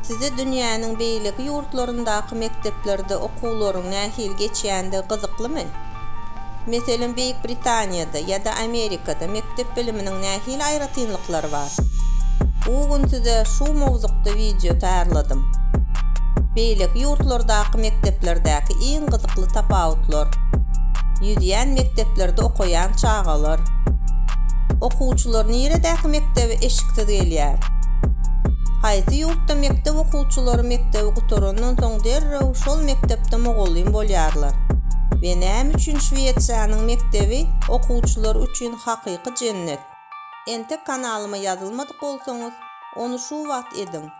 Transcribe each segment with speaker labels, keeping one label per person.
Speaker 1: Size dünýäniň beýleki ýurtlaryndaky mekdeplerde okuwlaryň nähili geçýändigi gyzyklymy? Meselem, Beýik Britaniýada ýa-da Amerikada mekdep biliminiň nähili aýratynlyklary bar? Bu gün size şu mowzukda wideo taýýarladym. Beýleki ýurtlardaky mekdeplerdäki iň gyzykly tapawutlar, ýüzýän mekdeplerde okaýan çagalar, okuwçylar niredäki mekdebe Siz gelýär. Haýsy ýurtda mekdep okuwçylary mekdebi gutarandan soň derrew şol mekdepde mugallym bolýarlar? We näme üçin Şwesiýanyň mekdebi okuwçylar üçin hakyky jennet? Entek kanalyma ýazylmadyk bolsaňyz, ony şu wagt ediň!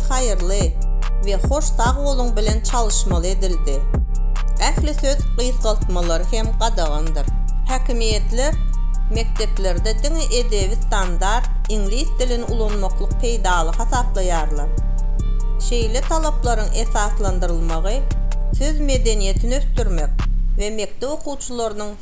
Speaker 1: haýyrly we hoş sag boluň bilen çalyşmaly edildi. Ähli söz gysgaltmalary hem gadagandyr. Häkimiýetler mekdeplerde diňe edebi standart iňlis dilini ulanmaklyk peýdaly hasaplaýarlar. Şeýle talaplaryň esaslandyrylmagy söz medeniýetini ösdürmek we mekdep okuwçylarynyň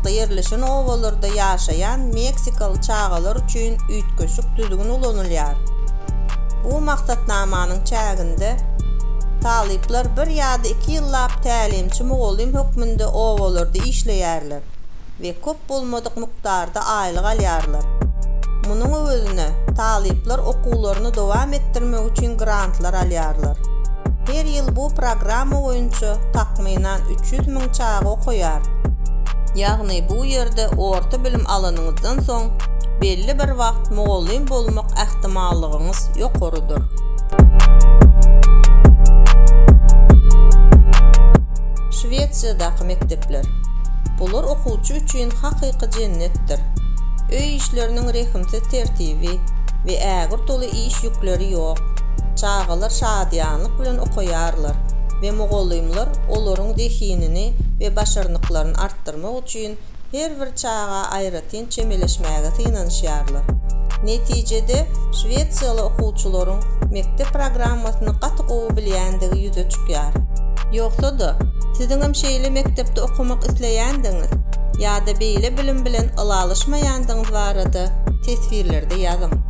Speaker 1: ýakynlykda ýerleşen obalarda ýaşaýan meksikaly çagalar üçin üýtgeşik düzgün ulanylýar. Bu maksatnamanyň çäginde talyplar bir ýa-da iki ýyllap tälimçi-mugallym hökmünde obalarda işleýärler we köp bolmadyk mukdarda aýlyk alýarlar. Munuň öwezine talyplar okuwlaryny dowam etdirmek üçin grantlar alýarlar. Her ýyl bu programma boýunça takmynan üç ýüz müň çaga okaýar. Ýagny bu ýerde orta bilim alanyňyzdan soň belli bir wagt mugallym bolmak ähtimallygyňyz ýokarydyr. Şwesiýadaky mekdepler. Bular okuwçy üçin hakyky jennetdir. Öý işleriniň rehimsiz tertibi we ägirt uly iş ýükleri ýok. Çagalar şadyýanlyk bilen okaýarlar we mugallymlar olaryň zehinini we başarnyklaryny artdyrmak üçin her bir çaga aýratyn çemeleşmäge synanyşýarlar. Netijede, şwesiýaly okuwçylaryň mekdep programmasyny gaty gowy bilýändigi ýüze çykýar. Ýogsa-da, siziňem şeýle mekdepde okamak isleýändigiňiz ýa-da beýle bilim bilen ylalaşmaýandygyňyz barada teswirlerde ýazyň.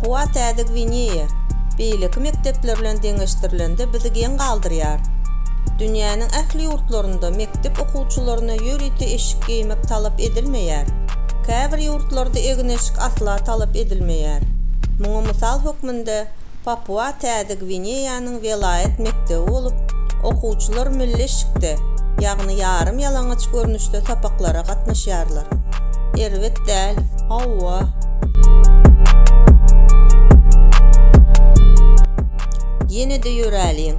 Speaker 1: Howa Täze Gwineýa beýleki mekdepler bilen deňeşdirilende bizi geň galdyrýar. Dünýäniň ähli ýurtlarynda mekdep okuwçylaryna ýörite eşik geýmek talap edilmeýär. Käbir ýurtlarda egin-eşik asla talap edilmeýär. Muňa mysal hökmünde Papua Täze Gwineýanyň welaýat mekdebi bolup, okuwçylar milli eşikde, ýagny ýarym ýalaňaç görnüşde sapaklara gatnaşýarlar. Erbet däl, hawa. Ýene-de ýöräliň,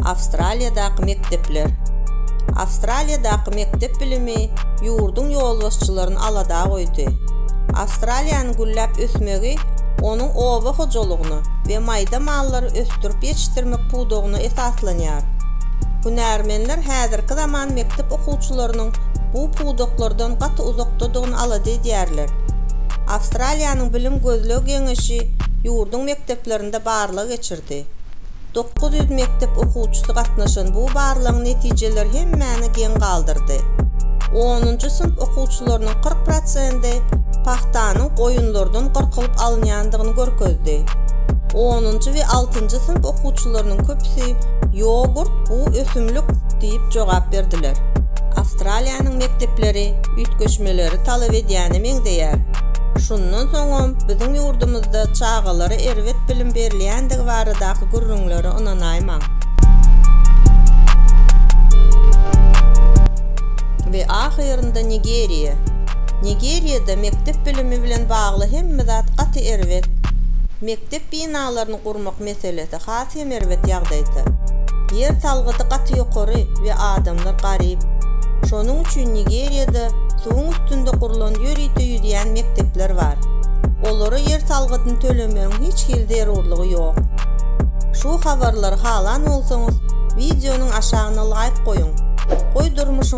Speaker 1: Awstraliýadaky mekdepler. Awstraliýadaky mekdep bilimi ýurduň ýolbaşçylaryny alada goýdy. Awstraliýanyň gülläp ösmegi onuň oba hojalygyny we maýda mallary ösdürip ýetişdirmek pudagyna esaslanýar. Hünärmenler häzirki zaman mekdep okuwçylarynyň bu pudaklardan gaty uzakdadygyny alada edýärler. Awstraliýanyň bilim gözleg geňeşi ýurduň mekdeplerinde barlag geçirdi. Dokuz ýüz mekdep okuwçysy gatnaşan bu barlagyň netijeleri hemmäni geň galdyrdy. Onunjy synp okuwçylarynyň kyrk prosendi pagtanyň goýunlardan gyrkylyp alynýandygyny görkezdi. Onunjy we altynjy synp okuwçylarynyň köpüsi Ýogurt, bu ösümlik diýip jogap berdiler. Awstraliýanyň mekdepleri üýtgeşmeleri talap edýäne meňzeýär. Şundan soňam biziň ýurdumyzda çagalara erbet bilim berilýändigi baradaky gürrüňlere ynanaýmaň. We ahyrynda Nigeriýa. Nigeriýada mekdep bilimi bilen bagly hemme zat gaty erbet. Mekdep binalaryny gurmak meselesi has hem erbet ýagdaýda. Ýer salgydy gaty ýokary we adamlar garyp. Şonuň üçin Nigeriýada suwuň üstünde gurlan ýörite ýüzýän mekdepler bar. Olara ýer salgydyny tölemegiň hiç hili zerurlygy ýok. Şu habarlary halan bolsaňyz wideonyň aşagyna laýk goýuň. Goý durmuşyňyzda